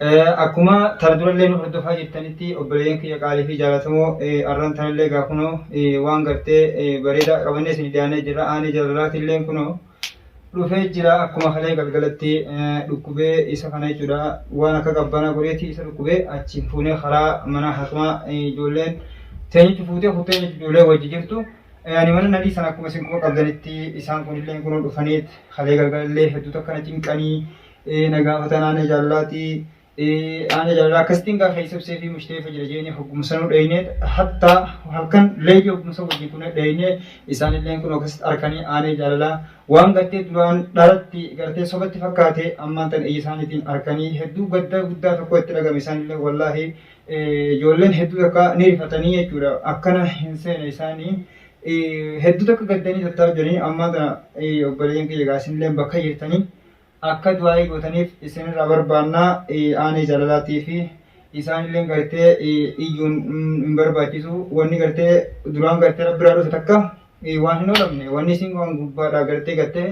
Akkuma tara durallee nu hordofaa jirtanitti obboleeyyan kiyya qaalii fi jaalatamoo arran tanallee gaa kunoo waan gartee bareedaa qabannee isin dhiyaannee jirra aanee jaalalaatillee kunoo dhufee jira akkuma kalee galgalatti dhukkubee isa kana jechuudha waan akka qabbanaa godheeti isa dhukkubee achi fuunee karaa mana hakimaa ijoolleen teenyichi fuutee kuttee jechuudha ijoollee wajji jirtu ani mana nadhii sana akkuma isin quba qabdanitti isaan kunillee kunoo dhufaniit kalee galgalallee hedduu takkana cinqanii ee na gaafatan aanee jaallaati aanee jaalala akkasitiin gaafa isabsee fi mushteefa jira jeeni hoggumsanuu dheeynee hatta halkan leeyya hoggumsa wajjin kun dheeynee isaanilleen kun akkasitti arkanii aanee jaalala waan gartee duraan dharatti gartee sobatti fakkaate ammaan tan iyya isaaniitiin arkanii hedduu gadda guddaa tokko itti dhagame isaanillee wallaahi ijoolleen hedduu takka ni rifatanii jechuudha akkana hin seene isaanii hedduu takka gaddanii tattaaf jiranii ammaa tana obboleeyyan kiyya gaasinillee bakka jirtanii akka du'aa'ii gootaniif isinirraa barbaanna aanee jaalalaatiifi isaanillee gartee iyyuun hin barbaachisu wanni gartee duraan gartee rabbiraa dhufe takka waan hin oolamne wanni isin waan gubbaadhaa gartee gartee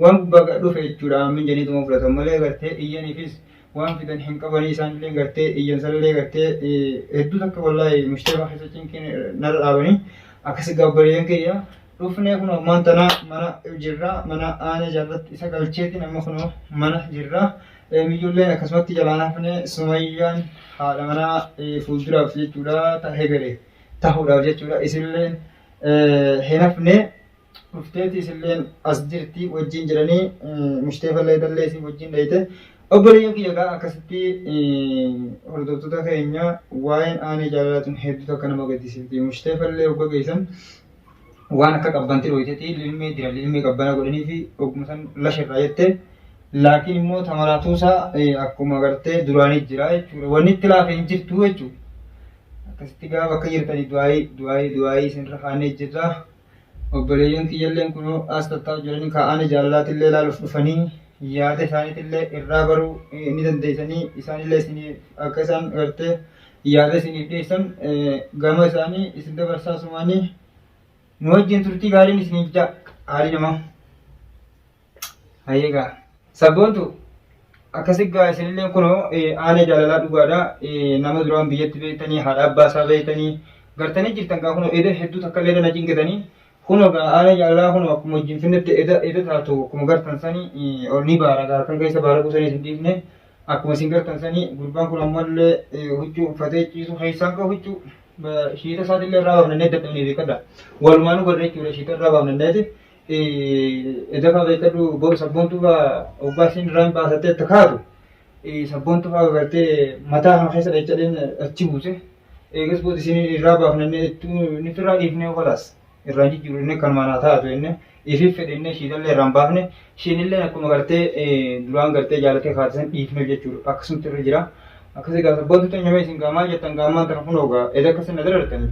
waan gubbaa dhufe jechuudha aamiin janiituma fudhatan malee gartee iyyaniifis waan fidan hin qabanii isaan illee gartee iyyan sallee gartee hedduu takka wallaahi mushtaba keessa cinqiin narra dhaabanii akkasi gaabbareeyyan kiyya dhufnee kun ammaan tana mana jirra mana aana jaallatti isa galcheetiin amma kun mana jirra miyyulleen akkasumatti jalaan hafnee sumayyaan haadha manaa fuulduraaf jechuudha ta hegere tahuudhaaf jechuudha isilleen hin hafnee dhufteeti isilleen as jirti wajjin jiranii mushteefallee dallee isii wajjin dhayte obboleeyyan kiyya gaa akkasitti hordoftoota keenya waa'een aanee jaalalaa tun hedduutu akka nama gaddisiifti mushteefallee ogga geessan waan akka qabbanti dhooyteeti lilmee dira lilmee qabbana godhanii fi ogguma san lasha irraa jette laakiin immoo tamaraatuusaa akkuma gartee duraanii jira jechuudha wanni itti laafe hin jirtu jechuudha akkasitti gaa bakka jirtanii du'aayii du'aayii du'aayii isinirra kaannee jirra. Obboleeyyan kiyyalleen kunoo as tattaa'u jiranii kaa'aanii jaalalaatillee ilaaluuf dhufanii yaada isaaniitillee irraa baruu ni dandeessanii isaanillee isiniif akka isaan gartee yaada isiniif dhiyeessan gama isaanii isin dabarsaa sumaanii nu wajjin turtii gaariin isiniif ja'a haalii namaa. Hayyee gaa. Sabboontu akkasi gaa isinillee kunoo aanee jaalalaa dhugaadha. Nama duraan biyyatti beektanii haadha abbaa isaa beektanii gartanii jirtan gaa kunoo eda hedduu takka illee na cinqitanii kunoo gaa aanee jaalalaa kunoo akkuma wajjin finnetti eda eda taatu akkuma gartan sanii ol ni baara gaa kan keessa baara qusanii isin dhiifne akkuma isin gartan sanii gurbaan kun ammallee huccuu uffatee ciisu keessaan gaa huccuu shiita isaatillee irraa baafnannee dadhabnee beekadha. Walumaanuu garree jechuudha shiita irraa baafnanneeti. Edafa beekadhu boru sabboontuu fa'aa oggaa isiin irraan baasattee itti kaatu sabboontuu fa'aa gartee mataa kana keessa dhachadheen achi buuse. Eegas booda isiin irraa baafnannee inni firraa dhiifnee kolaas irraan jijjiiru inni kan manaa taatu inni ifiif fedhe inni ishiidhallee irraan baafne ishiinillee akkuma gartee duraan gartee jaalatee kaatisan dhiifneef jechuudha akkasumatti irra jira. Akkasii gaa sabboontuu teenyamee isin gaa maal jettan gaa ammaan tana kun ogaa eda akkasii na darartanii.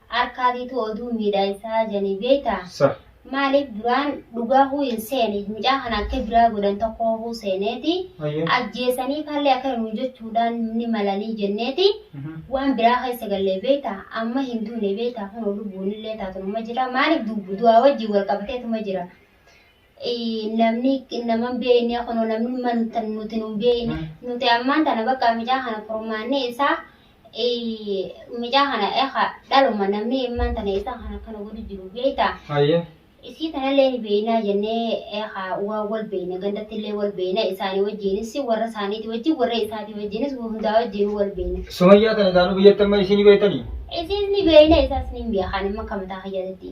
Arkaa tiituu oduu miidhaa isaa janii beeytaa? Sah. Maaliif duraan dhugaa huu hin seene mucaa kana akka biraa godhan tokkoo huu seeneeti Hayyee. ajjeesanii faallee akkana nuun jechuudhaan ni malanii jenneeti Mhm. waan biraa keessa gallee beeytaa amma hin duune beeytaa kunoo lubbuunillee taatunuma jira maaliif du- du'aa wajjin wal qabateetuma jira namni nama hin beekne kunoo namni manta nuti nu hin beekne nuti ammaan tana bakka mucaa kana furmaanni isaa mucaa kana eha dhaluma namni ammaan tana isaa kana akkana godhu jiru beektaa Hayyee. isii tanallee ni beeknaa jennee eha waa wal beekna gandatti illee wal beekna isaanii wajjiinis warra isaaniitii wajjin warra isaatii wajjiinis hundaa wajjin wal beekna Sumayyaa kana isaanuu biyyatti amma isin beektanii? isiis ni beekna isaas ni beekan amma akka mataa kiyyaatti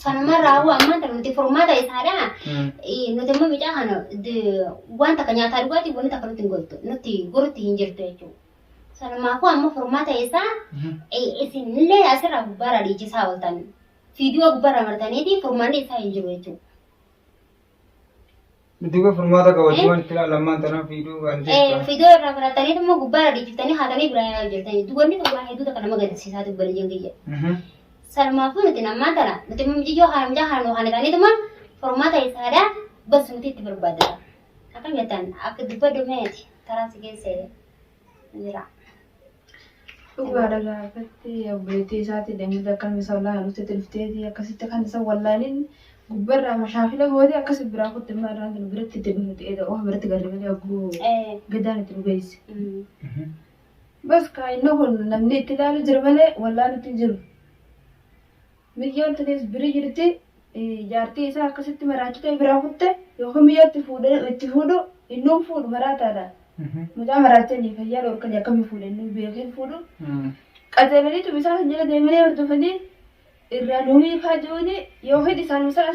Sanuma raawwa ammaan tana nuti furmaata isaadha. Mm. Eh, Nuti immoo mucaa kana d- waan takka nyaataa dhugaatii wanni takka nuti hin godhu nuti gorutti hin jirtu jechuudha. Sanumaafuu amma furmaata isaa Mhm. eh, isinillee asirraa gubbaarraa dhiichisaa ooltan. Fiidiyoo gubbaarraa martaniitii furmaanni isaa hin jiru jechuudha. Dudduuba furmaata qabaachuu waan itti ilaallamaan tanaan fiiduu waan ta'eef. Fidoo irraa fudhatanii immoo gubbaa irra dhiichiftanii haatanii biraa yaa hojjetanii. Dubarni kun waa hedduu takka nama gaddisiisaa ta'u bala jengiyya. Salmaafuu nuti namaa tana nuti mumjiyyoo haramjaa haran waan isaanii tuma furmaata isaadhaa basu nuti itti barbaadata. Akkam jettan akka dubba dumeeti taraa si geessee. jira. Dhugaadha gaa akkatti obboleettii isaati deemee akka nama isa wallaalu dhuftetti dhufteeti akkasitti kan isa wallaalin gubbarraa mashaakila gootee akkas biraa kutte immoo irraan kan biratti itti dhufnuti eeda oha biratti galle malee hogguu Eh. gadaan itti dhugeesse. Mm. Bas kaa inni kun namni itti ilaalu jira malee wallaalutti hin jiru. Miyyaan tunis biri jirti jaartii isaa akkasitti maraachitee biraa kutte yookiin miyyatti fuudhee itti fuudhu innuu fuudhu maraataadha. Mucaa maraachanii fayyaa dhorkanii akkamii fuudhe innuu beekee fuudhu. Qajeelanii tumisaa kan jala deemanii hordofanii irraa nu hiikaa jiruuni yookiin isaan isaa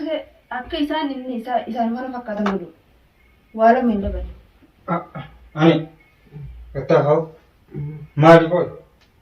akka isaan inni isaa isaan kana fakkaatan godhu. Waa lama hin dabalu. Ani. Gattaafaa'u. Maali qoy?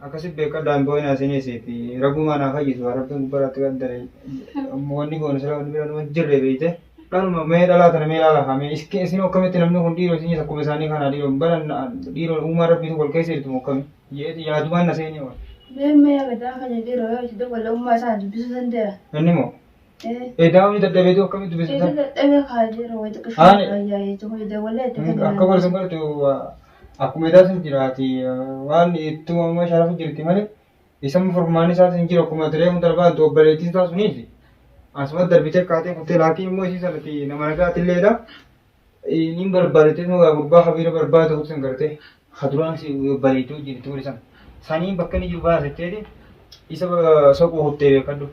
Akkasi bekka daan boyina isini isifi rabumaa naa fayyisu haa rabbin gubbara atti qaddare wani gonu sila wani biranu hin jirre beyte dhaluma mee dhalaa tana mee laala kaa mee iski isinu akkamitti namni kun dhiiro isinis akkuma isaanii kana dhiiro bara dhiiro uumaa rabbitu wal keessa jirtu moo akkami jeeti yaadumaan na seenee wal Mee mee aragaa kanya dhiiro yoo itti dawwala ummaa isaa dubbisuu dandeera. inni moo Eedaawwan ni dadhabeetu akkamitti Itu dubbisisaa? dadhabe kaa jira wayita Ani- qishaan ayyaayee jiru wayita wallee itti Akka kennan. godhe sun godhe akkuma edaa sun jiraati waan itti uumama sharafu jirti malee isan furmaanni isaas hin jiru akkuma diree kun darbaa itti obboleettiin isaa suniif asuma darbitee kaatee kuttee laakiin immoo isii sanatti nama nagaati illeedha Niin barbaadate nugaa gurbaa habiira barbaada ta'uu san gartee haduraan si baleetu wajjin ture san saniin bakka inni jiru baasetteeti isa soquu kuttee beekadhu.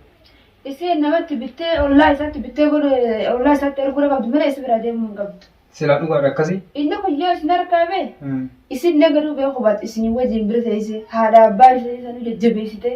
Iseen namatti bittee ollaa isaatti bittee godhe ollaa isaatti erguu dha qabdu malee isa bira deemuu hin qabdu. Silaa dhugaadha akkasii. Inni kun yoo isin harkaa bee isin illee gaduu bee hubatte isin wajjin bira teessee haadha abbaa ishee sanuu jajjabeessitee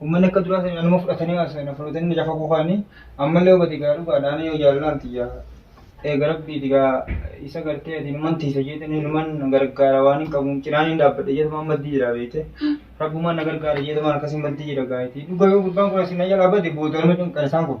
Uummanni akka duraa sanii anuma fudhatanii haasa'e na fudhatanii na cafaquu kaanii ammallee hubate gaa dhugaadha ani yoo jaallalaan tiyya eega rabbiiti gaa isa gartee ati numan tiisa jeetanii numan gargaara waan hin qabuun cinaan hin dhaabbadhe jeetumaan maddii jira beekte rabbumaan na gargaara jeetumaan akkasii maddii jira gaa itti dhuga yoo gurbaan kun asii na jalaa bade booda nama cinqan isaan kun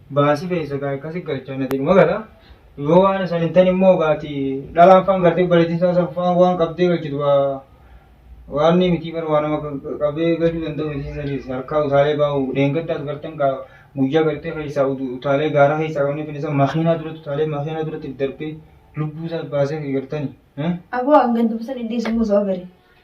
Baasi keessa gaa akkasi galchaa nati dhuma gala. Yoo waan san hin tane immoo gaati dhalaan faan gartee obboleettiin isaa san faan waan qabdee galchitu waa waan ni mitii bar waa nama qabee galuu danda'u mitii saniis harkaa utaalee baa'u dheengaddaas gartan gaa guyyaa gartee keessaa utu- utaalee gaara keessaa qabnee finisa makiinaa duratti utaalee makiinaa duratti darbee lubbuu isaa baasee gartani. Aboo hangan dubbisan iddeessu immoo sababa bari.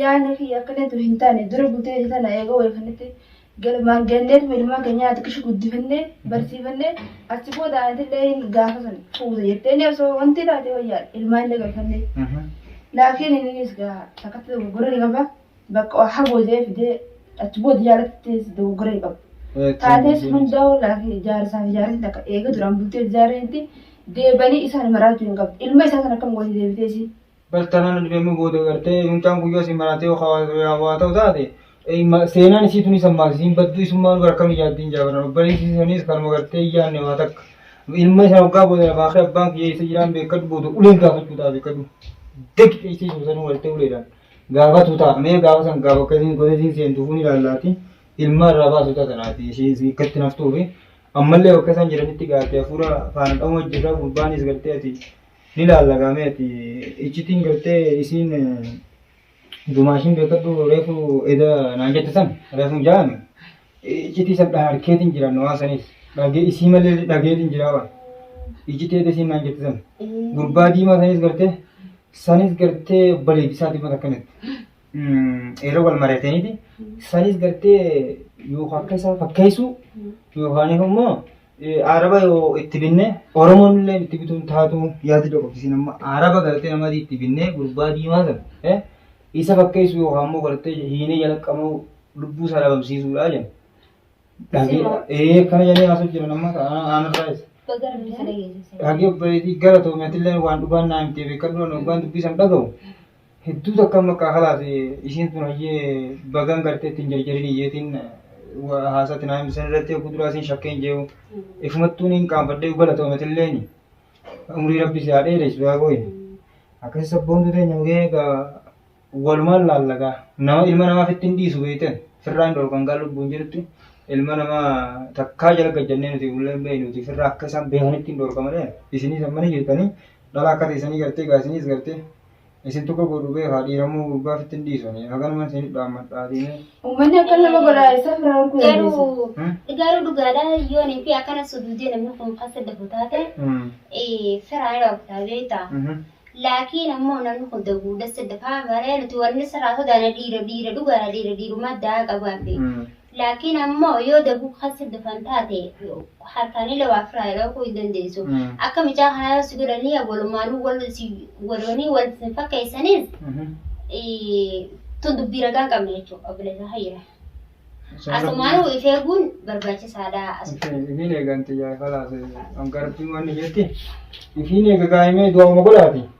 Yaanni kiyya akkanatti hin taane dura buteeti tana eega wal kanatti galmaan ganneetuma ilmaan keenya xiqqish guddifannee barsiifannee achi booda aantillee gaafa san fuuta jetteenii osoo wanti taate wayyaadha ilmaanillee galfannee. Laakiin inninis gaa takkatti dogoggora ni qaba bakka waa hagoodee fidee achi booda jaalattees dogoggora ni qaba. Taatees hundaa'uu laakiin ijaarsaaf ijaarsi takka eega duraan bultee ijaarreetti deebanii isaan maraachuu hin qabdu. Ilma isaa sana akkam gooti deebitee isii? bartaanaan na dhibee immoo booda gartee mucaan kun yoo si maraatee waa ta'u taate seenaan isii tunis ammaas isiin badduu isummaa nu barkam ijaatti hin jaabaran obboleessi isanis kanuma gartee iyyaanne waa takka ilma isaa waggaa booda lafaa kee abbaan kiyya isa jiraan beekadhu booda uleen gaafachuu ta'a beekadhu deg isii suusanuu waltee uleedhaan gaafatu ta'a mee gaafa san gaafa akkasiin gosa isiin seentu fuun ilaallaati ilma irraa baasu ta'a sanaati ishee akkatti naftuufi ammallee bakka isaan jiranitti gaafte hafuura faana dha'uma jirra gurbaanis gartee ati Ni laalla gaa mee ati iccitiin gartee isiin dumaashiin beekadhu reefu eda naan jette san reefu jaame iccitii san dhaharkeetiin jira nu waan saniis dhagee isii malee dhageetiin jira waan iccitii eda isiin naan jette san gurbaa diimaa saniis gartee saniis gartee baleedisaati mata kanatti yeroo wal mari'ataniiti sanis gartee yoo akka isaa fakkeessuu yookaan immoo araba yoo itti binne oromoon illee itti bituun taatu yaadi tokko isin amma araba gartee namadii itti binne gurbaa diimaa sana isa fakkeessuu yookaan immoo gartee hiinee jalaqamuu lubbuu isaa dhabamsiisuudha jenna. Dhagee akkana jedhee haasoo jiran amma aanarraa isa. Dhagee obboleetii gara toomatillee waan dhugaan naa himtee beekadhu waan dubbisan dhagahu. Hedduu takkaan bakka halaas isiin tun hayyee bagaan gartee ittiin jarjarin iyyeetiin haasaa tinaa himte san irratti hogguu duraa isiin shakkeen jee'u ifumattuu niin qaanfadhee galatoomatilleen umrii rabbi si haa dheeressu yaa booye akkasi sabboontuu teenya mugee egaa walumaan laallagaa nama ilma namaa fitti hin dhiisu beeyten firraa hin dhorkan gaa lubbuun jirutti ilma namaa takkaa jala gajjannee nuti bullee hin beeynuuti firraa akka isaan beekanitti hin dhorka malee isinii san mana jirtanii dhala akka teessanii gartee gaa isiniis gartee Isin tokko godhu beekaa dhiirammoo gurbaa fittin dhiisoni haganuman isin dhaammadhaa diinee. Uummanni akka nama godhaa eessaaf irraa arguu dandeessa? Garuu Hmm? garuu dhugaadha yoon fi akkana suduudee namni kun kan saddafu taate Hmm. eh, firaa yoo aktaa beekta. Mhm. Laakiin ammoo namni kun daguudha saddafaa malee nuti wanni sirraa sodaana dhiira dhiira dhugaadha dhiira dhiirumaa daa qabaan beekta. Hmm. Laakiin ammoo yoo dafuu kan si dafan taate harkaanillee waa firaa dhowkuu hin dandeessu. Akka mucaa kanaa yoo si godhanii walumaanuu wal si godhanii wal isin fakkeessaniis tun dubbii ragaa hin qabne jechuudha obboleessa hayyira. Asumaanuu if eeguun barbaachisaadha. Ifiin eegan xiyyaa ifa laate garbiin wanni jetti ifiin eega gaa'imee du'auma godhaati.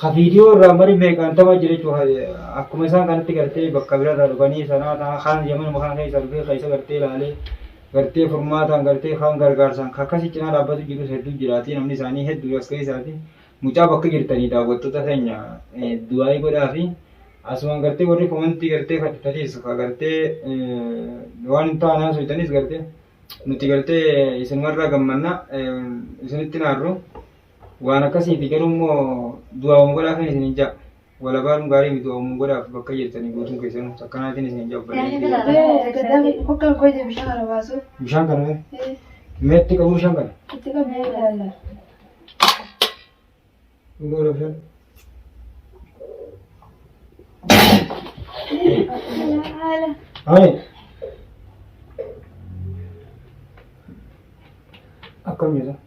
Ka viidiyoo irraa mari meeqaan tapha jira jechuudha. Akkuma isaan kanatti gartee bakka birarraa dhufanii sanaa ta'aa kaan yamanuma kana keessa dhufee keessa gartee ilaalee gartee furmaataan gartee kaan gargaarsaan ka akkasii cinaa dhaabbatu jirus hedduu jiraatii namni isaanii hedduu as keessaati. Mucaa bakka jirtanii daawwattoota keenya du'aayii godhaa fi asumaan gartee warri komantii gartee kadhataniis ka gartee waan hin taane haasoftanis gartee nuti gartee isinumarraa gammanna isinitti naarru. Waan akkasiifi garuu immoo du'aa waan godhaa kan isiniin ja'a. Walabaan gaarii miti waan godhaaf bakka jirtanii guutuun keessanuu takkanaatiin isiniin ja'a obboleeyyan. Hokkaan koo ija bishaan kana baasuuf. Bishaan kana mee? Mee itti qabu bishaan kana? Itti qabu mee ilaalla. Dhugoo lafeen. Haala. Haye. Akkam jira?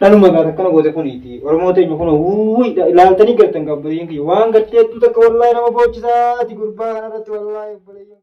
Dhaluma gaata akkana goote kuniiti. Oromoo teenya kun wuuyi ilaaltanii galtan qabbaleen kiyya waan galtee hedduu takka wallaahi nama boochisaati gurbaa kanarratti wallaahi obboleeyyan.